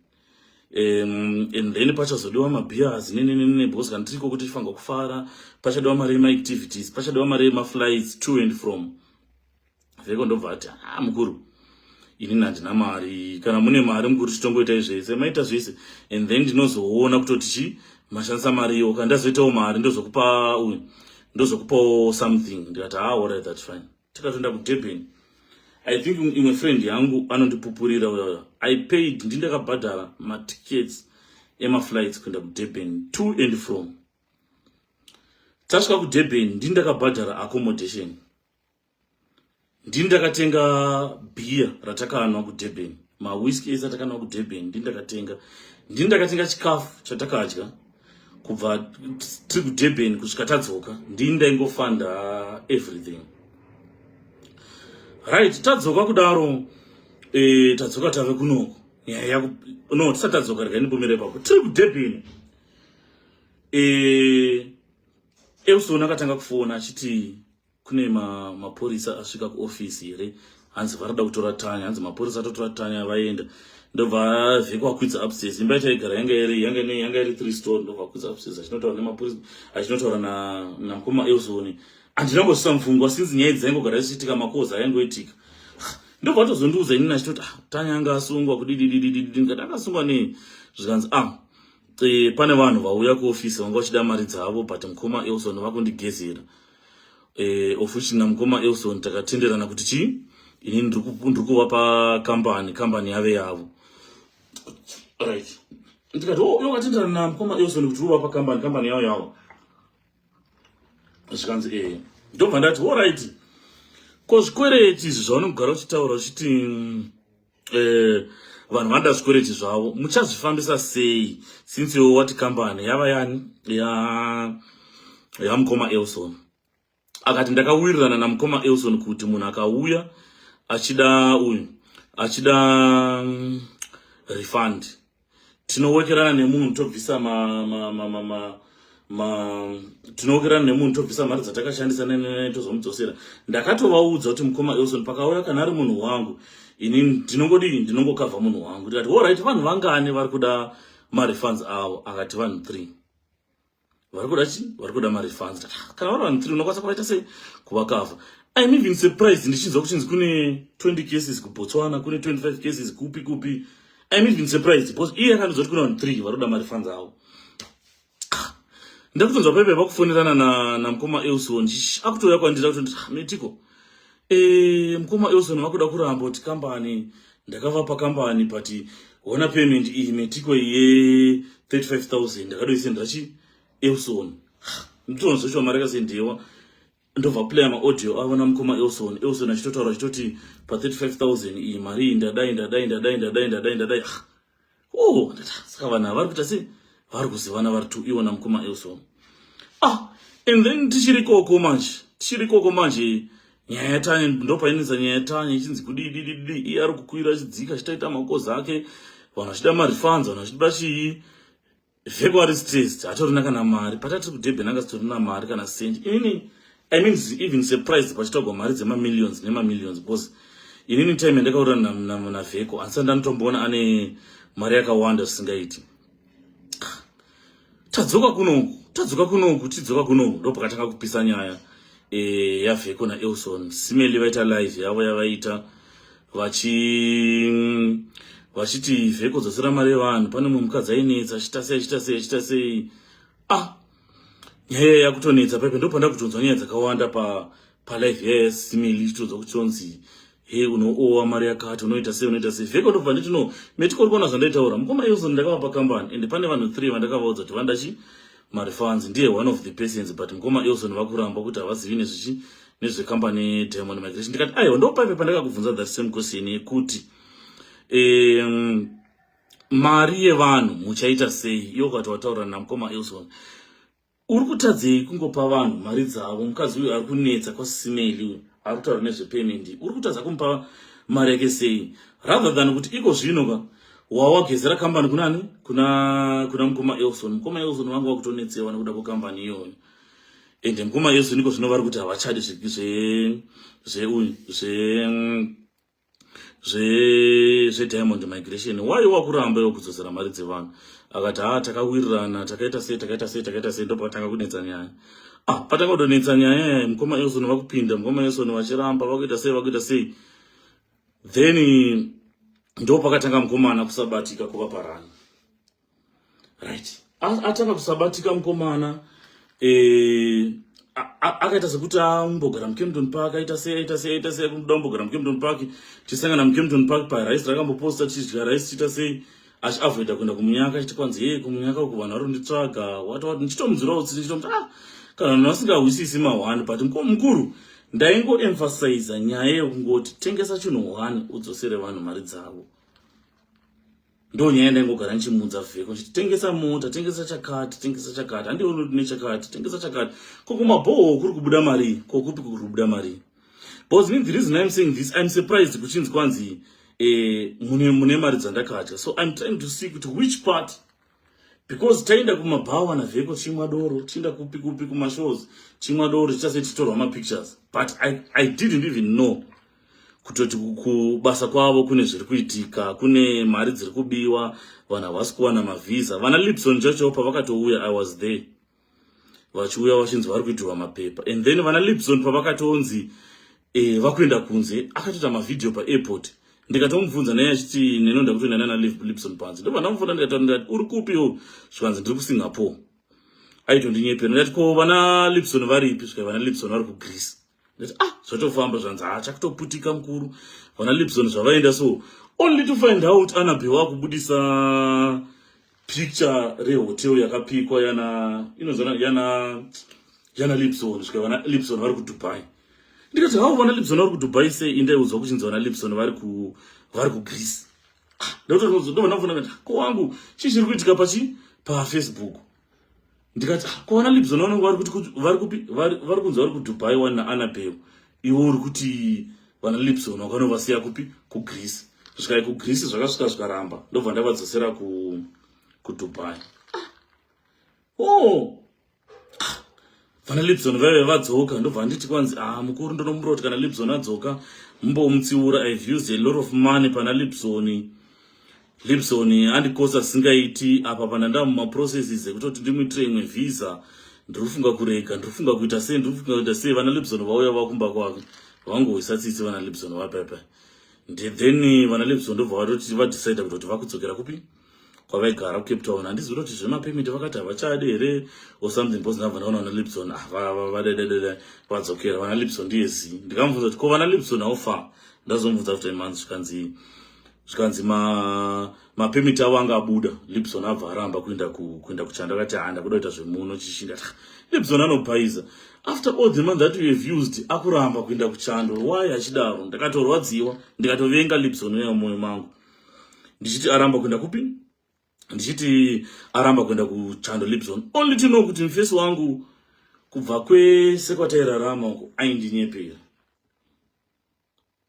um, and then pachazodiwa mabeers nenenene bos kana tiriko kuti tifanirwa kufara pachadiwa mari emaactivities pachadiwa mari emaflights to and from vheko ndobva ati haa ah, mukuru inini handina mari kana mune mari mukuru titongoitai zvese maita zvese and then ndinozoona kutoti chi mashandisa mari iyo ka ndazoitawo mari ndozokupa uyu ndozokupawo something ndikati haa ah, orit that fine tikatoenda kudurban i think imwe friend yangu anondipupurira uyauya i paid ndi ndakabhadhara matickets emaflights kuenda kudurban to and from tasvika kudurban ndi ndakabhadhara accommodation ndini ndakatenga beer ratakanwa kudurban mawhiski ese atakanwa kudurban ndini ndakatenga ndini ndakatenga chikafu chatakadya kubva tiri kudurban kusvika tadzoka ndini ndaingofanda everything right tadzoka kudaro eh, tadzoka tave kunoko nyaya yaku no tisati tadzoka rega ndipomere papo tiri kudurban eh, euson akatanga kufona achiti kune ma, mapurisa asvika kuofisi here hanzi varida kutora tanya hanzi mapurisa atotora tanya vaenda ndobva vhekwakwidza upstairs imba yataigara yanga iri yanga ine yanga iri three store ndobva kwidza upstairs achinotaura nemapurisa achinotaura na namkoma elzoni handina ngosvisa mfungwa since nyaya dzaingogara dzichiitika makoza ayangoitika ndobva atozondiudza inini achitoti ah, tanya anga asungwa kudidididididi ndikati akasungwa nei zvikanzi ah e, pane vanhu vauya kuofisi vanga vachida mari dzavo but mkoma elzoni vakundigezera eh, of which namukoma elson takatenderana kuti chii ini ndiri kuva pakambani kambani yave yavo right ndikati oh, yokatenderana namukoma elson kuti uva pakambani kambani yavo yavo zvikanzi ee eh. ndobva ndati orit ko zvikwereti izvi zvaunogara uchitaura uchiti mm, eh, vanhu vanoda zvikwereti zvavo muchazvifambisa sei since iwo wati kambani yava yani yamukoma elson akati ndakawirirana namukoma elson kuti munhu akauya achida uyu achida mm, refund tinowekerana nemunhu tobvisa ma, ma, ma, ma, ma ma tinowokerana nemunhu tobvisa mari dzatakashandisa nenene tozomudzosera ndakatovaudza kuti mukoma elson pakauya kana ari munhu wangu ini ndinongodii ndinongokavha munhu wangu ndikati orit vanhu vangani vari kuda marefunds avo akati vanhu three vari kuda chii vari kuda marefunds ah, kana vari vanhu three unokwanisa kuvaita sei kuvakavha im even surprised ndichinzwa kuchinzi kune 20 cases kubotswana kune 25 cases kupi kupi im even surprised because iye akandiudza kuti kune vanhu three vari kuda marefunds avo ah, ndakutonzwa paipe vakufonerana namukoma elson akutouya kwandira kuti ah, metiko Eh, mkoma Elson vakuda kuramba kuti company ndakavapa company but hona payment iyi metiko ye 35000 ndakadoisendera chi Elson. Nditonzwa kuti mari yakasendewa ndobva playa maaudio avo namukoma Elson. Elson achitotaura achitoti pa 35000 iyi mari iyi ndadai ndadai ndadai ndadai ndadai ndadai. oh saka vanhu havari kuita se vari kuzivana vari two iwona mukoma elson ah and then tichiri koko manje tichiri koko manje nyaya yatanye ndopainetsa nyaya yatanye ichinzi kudidididi iye ari kukwira achidzika achitaita makozi ake vanhu vachida marifanzi vanhu vachida chii February is stressed. Hatorina kana mari. Patati kudebhen anga sitorina mari kana cent. Inini I mean even surprised pachitogwa mari dzema millions nema millions because inini time yandakaura na na, na Veko asi ndanotomboona ane mari yakawanda zvisingaiti. Tadzoka kuno, tadzoka kuno, tadzoka kuno ndopakatanga kupisa nyaya eh ya Veko na Elson. Simeli vaita live yavo yavaita. vachi vachiti vheko dzasira mari yevanhu pane mumwe mukadzi ainetsa achita sei achita sei achita sei ah nyaya yakutonetsa paipe ndo panda kutonzwa nyaya dzakawanda pa palife yaya simili ichitodzwa kuti tonzi he unoowa mari yakati unoita sei unoita sei vheko ndobva nditi no metikori kuona zvandaitaura mukoma euzon ndakavapa kambani ende pane vanhu three vandakavaudza kuti vandachi Marifans ndiye one of the persons but mkoma Elson vakuramba kuti havazivi nezvichi nezve company Diamond Migration ndikati aiwa ndopaipe pandakakubvunza that same question yekuti um, mari yevanhu muchaita sei iyo ukati wataura namkoma Elson uri kutadzei kungopa vanhu mari dzavo mukadzi uyu ari kunetsa kwasisimeli uyu ari kutaura nezvepayment uri kutadza kumupa mari yake sei rather than kuti iko zvino ka wawagezera kambani kunani kuna kuna mukoma Elson mukoma Elson wangu wakutonetsewa nekuda kwekambani iyoyo and mukoma Elson iko zvino vari kuti havachadi zve zve uyu zve zve zve diamond migration why wakuramba iwo kudzosera mari dzevanhu akati haa takawirirana takaita sei takaita sei takaita sei ndopatanga kunetsa nyaya ah patanga kutonetsa nyaya mukoma Elson vakupinda mukoma Elson vachiramba vakuita sei vakuita sei then ndopakatanga mukomana kusabatika kuva parani right atanga kusabatika mukomana eh, akaita sekuti ambogara mukempton park aita sei aita sei aita sei kuda kumbogara mukempton park tisangana mukempton park parice rakamboposta tichidya rice tiita sei asi avoida kuenda kumunyaka chiti kwanzi hei kumunyaka uku vanhu vari kunditsvaga wati wati ndichitomudzirawo tsitsi ndichitomuti ah kana vanhu vasingahwisisi mahwani but mukuru ndaingoemphasiza nyaya yekungoti tengesa chinhu hwani udzosere vanhu mari dzavo ndo nyaya ndaingogara ndichimuudza vheko chiti tengesa mota tengesa chakati tengesa chakati handioni kuti nechakati tengesa chakati ko kumabhoho kuri kubuda marii kokupi kuri kubuda marii because me the reason i'm saying this i'm surprised kuchinzi kwanzi eh, mune, mune mari dzandakadya so i'm trying to see kuti which part because taenda kumabhawa navheko chimwa doro tienda kupi kupi kumashows chimwa doro tichase titorwa mapictures but I, i didn't even know kutoti kubasa kwavo kune zviri kuitika kune mari dziri kubiwa vanhu havasi kuwana mavhiza vana lipson chacho pavakatouya i was there vachiuya vachinzi vari kuitirwa mapepa and then vana lipson pavakatonzi eh, vakuenda kunze akatoita mavhidhiyo paairport ndikatomubvunza naye achiti nenoda kutoenda nana lipson panze ndobva ndamufona ndikataura ndikati uri kupiwo zvikanzi ndiri kusingapore aitondinyepera ndikati ko vana lipson varipi zvikai vana lipson vari kugreece ah zvatofamba zvanzi haa chakutoputika mukuru vana lipson zvavaenda so only to find out anabe wakubudisa picture rehotel yakapikwa yana inozana yana yana lipson svika vana lipson vari kudubai ndikati hau vana lipson vari kudubai sei indaiudzwa kuchinzi vana lipson vari ku vari kugreece ah, ndototozodomanafona kati ko wangu chii chiri kuitika pachi pafacebook ndikati ah, kwaona libs ona unenge vari kunzi vari kudubai wani naanabel iwo uri kuti vana libs ona ukanovasiya kupi kugreece zvikai kugreece zvakasvika zvikaramba ndobva ndavadzosera kudubai o oh. vana libson vaive vadzoka ndobva anditi kwanzi a ah, mukuru ndonomumbira kuti kana libson adzoka mumbomutsiura ive used a lot of money pana libson libson andikosa singaiti apa pana ndamumaprocesses ekutoti ndimuitire imwe visa ndiri kufunga kurega ndiri kufunga kuita sei ndiri kufunga kuita sei vana libson vauya vakumba kwavo vangohwisa tsitsi vana libson vapepe then vana libson ndobva vatoti vadecide kutoti vakudzokera kupi kwavaigara kucape town handizivi kuti zvemapemiti vakati havachadi here or something because ndabva ndaona vana lipson vadaidadada ah, vadzokera vana lipson ndiye zii ndikamubvunza kuti ko vana lipson aofa ndazomubvunza kuti manzi zvikanzi zvikanzi mapemiti avo anga abuda lipson abva aramba kuenda kuenda kuchanda akati handa kuda kuita zvemuno chishinda ah, lipson anobhaiza after all the month that you have used akuramba kuenda kuchando why achidaro ndakatorwadziwa ndikatovenga lipson uya mumwoyo mangu ndichiti aramba kuenda kupi ndichiti aramba kuenda kuchando libson only to know kuti mfesi wangu kubva kwese kwatairarama uko aindinyepera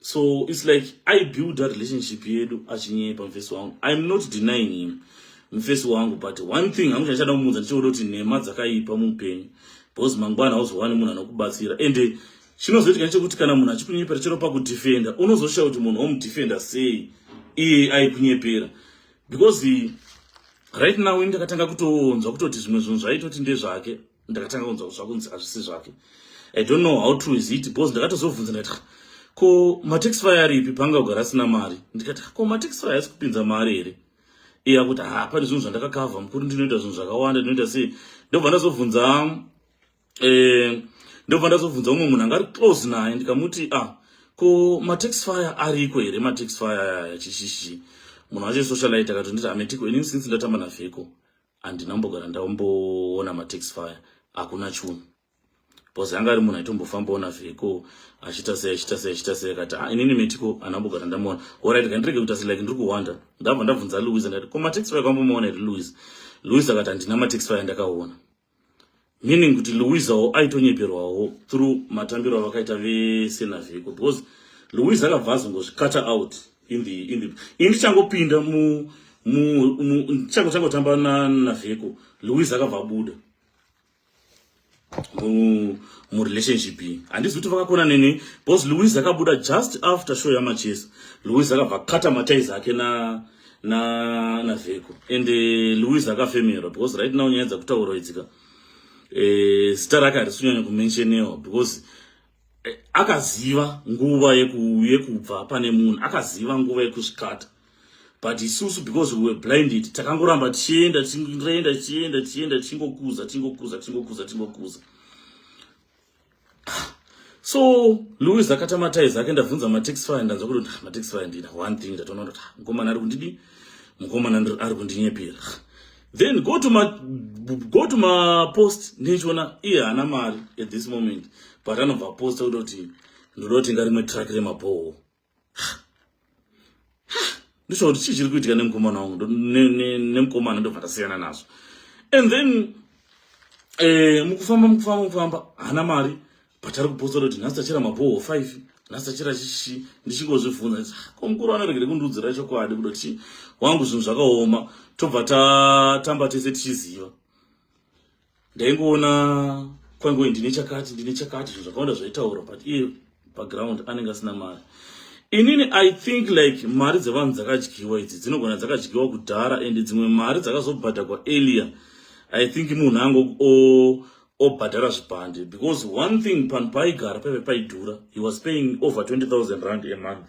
so its like i build that relationship yedu achinyepa mfesi wangu iam not denying him mfesi wangu but one thing hangu chandichada kumuudza ndichioda kuti nhema dzakaipa muupenyu because mangwana hauzowani munhu anokubatsira ende Chinozoitika ndechekuti kana munhu achikunyepera chero pakudefenda unozoshaya kuti munhu omudefenda sei iye aikunyepera because right now ini ndakatanga kutonzwa kutoti zvimwe zvinhu zvaitoti ndezvake ndakatanga kunzwa kuti zvakunzi hazvisi zvake i don't know how true is it because ndakatozobvunza ndikati ko matax fire aripi panga kugara asina mari ndikati ko matax fire asi kupinza mari here iya kuti ha pane zvinhu zvandakakavha mukuru ndinoita zvinhu zvakawanda ndinoita sei ndobva ndazobvunza eh ndobva ndazobvunza umwe munhu angari close naye ndikamuti ah ko matax fire ariko here matax fire aya chishishi munhu wacho socialite akatonditi ametiko ini since ndatamba navheko handina mbogara ndaomboona matax fire hakuna chunhu bcause anga ari munhu aitombofambawo navheko achiita sei achiita sei achiita sei akati ah, inini metiko anambogara ndamuona orit kandirege kuita se like ndiri kuhwanda ndabva ndabvunza louis ndati ko matax fire kwambomaona here louis louis akati handina matax fire ndakaona meaning kuti louisawo aitonyeperwawo through matambiro avakaita vese navheko because louis akabva azongozvicutter out in the in the ini ndichangopinda mu ndichango changotamba navheko louis akabva abuda murelationship iyi handizi kuti vakakona neni because louis akabuda just after show yamachesa louis akabva kata mataizi ake na na na vheko and eh, louis akafemerwa because right now nyaya dzakutaurwa idzika eh, zita rake harisunyanya kumentionewa because eh, akaziva nguva yekubva pane munhu akaziva nguva yekusvikata but isusu because we were blinded takangoramba tichienda tichienda tichienda tichienda tichingokuza tichingokuza tichingokuza tichingokuza so louis akata mataizi ake ndabvunza matax fire ndanzwa kuti ah, matax fire ndina one thing ndatoona kuti ah, mukomana ari kundidi mukomana ari kundinyepera then go to ma go to ma post ndichiona iye haana mari at this moment but anobva posta kuti kuti ndoda kutenga rimwe track remabhoho ndisva kuti chii chiri kuitika nemukomana wangu nemukomana ndobva tasiyana nazvo and then eh, mukufamba mukufamba mukufamba haana mari but ari kupostora kuti nhasi tachera mabhoho five nhasi tachera chichi ndichingozvibvunza nditi ah, ko mukuru anoregere kundiudzira chokwadi kuda kuti wangu zvinhu zvakaoma tobva tatamba tese tichiziva ndaingoona kwangoi ndine chakati ndine chakati zvinhu zvakawanda zvaitaura but iye paground anenge asina mari inini i think like mari dzevanhu dzakadyiwa idzi dzinogona dzakadyiwa kudhara and dzimwe mari dzakazobhadhagwa earlier i think munhu ango obhadhara zvipande because one thing panhu paaigara paive paidhura he was paying over 20000 rand a month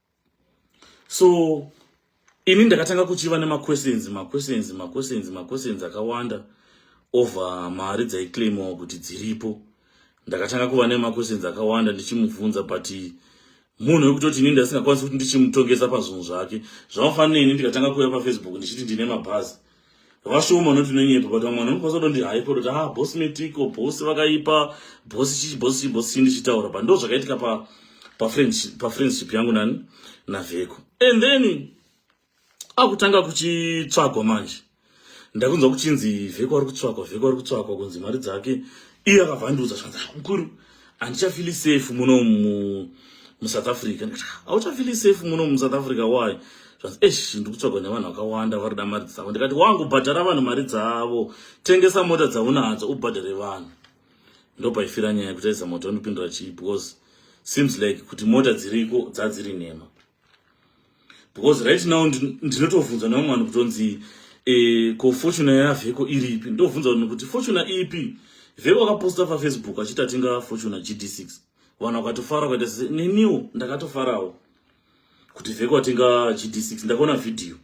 so ini ndakatanga kuchiva nemaquestions maquestions maquestions maquestions akawanda over mari dzaiclaimiwa kuti dziripo ndakatanga kuva nemaquestions akawanda ndichimubvunza but munhu wekutoti ini ndasingakwanisi kuti ndichimutongesa pazvinhu zvake zvamafanira ini ndikatanga kuuya pafacebook ndichiti ndine mabhazi vashoma vanoti nonyepa but vamwe vanhu vanokwanisa kutondi haipo kuti ah bosi metiko bosi vakaipa bosi chichi bosi chichi bosi chii ndichitaura but ndo zvakaitika pa pafriendship yangu nani navheko and then akutanga kuchitsvagwa manje ndakunzwa kuchinzi vheko ari kutsvagwa vheko ari kutsvagwa kunzi mari dzake iye akavhandiudza zvanzi ah, mukuru handichafili safe muno mu, musouth africa hauchafili ah, safe muno musouth africa why esh ndikutsvagwa nevanhu vakawanda vari da mari dzavo ndikati wangu bhadhara vanhu mari dzavo tengesa mota dzaunadzo ubhadhare vanhu ndopaifira nyaya yekutaisa mota unopindura chii because seems like kuti mota dziriko dzadziri nhema because right now ndinotovhunza nevamwe vanhu kutonzi e, ko fortuna yavheko iri ipi ndovhunza vanhu kuti fortuna ipi vheko akaposta pafacebook achiti atenga fortuna gd6 vanhu vakatofara ukaita sese neniwo ndakatofarawo kuti vheko atenga gd6 ndakaona vhidhiyo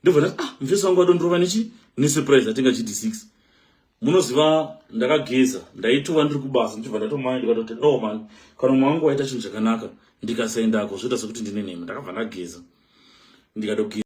ndobva ndati ah mufesi wangu adondorova nechi nesurprise atenga gd6 munoziva ndakageza ndaitova ndiri kubasa ndichibva ndatomai ndikatoti no man kana umwe wangu waita chinhu chakanaka ndikasaendako zvoita sekuti ndine nhema ndakabva ndageza ndikatogeza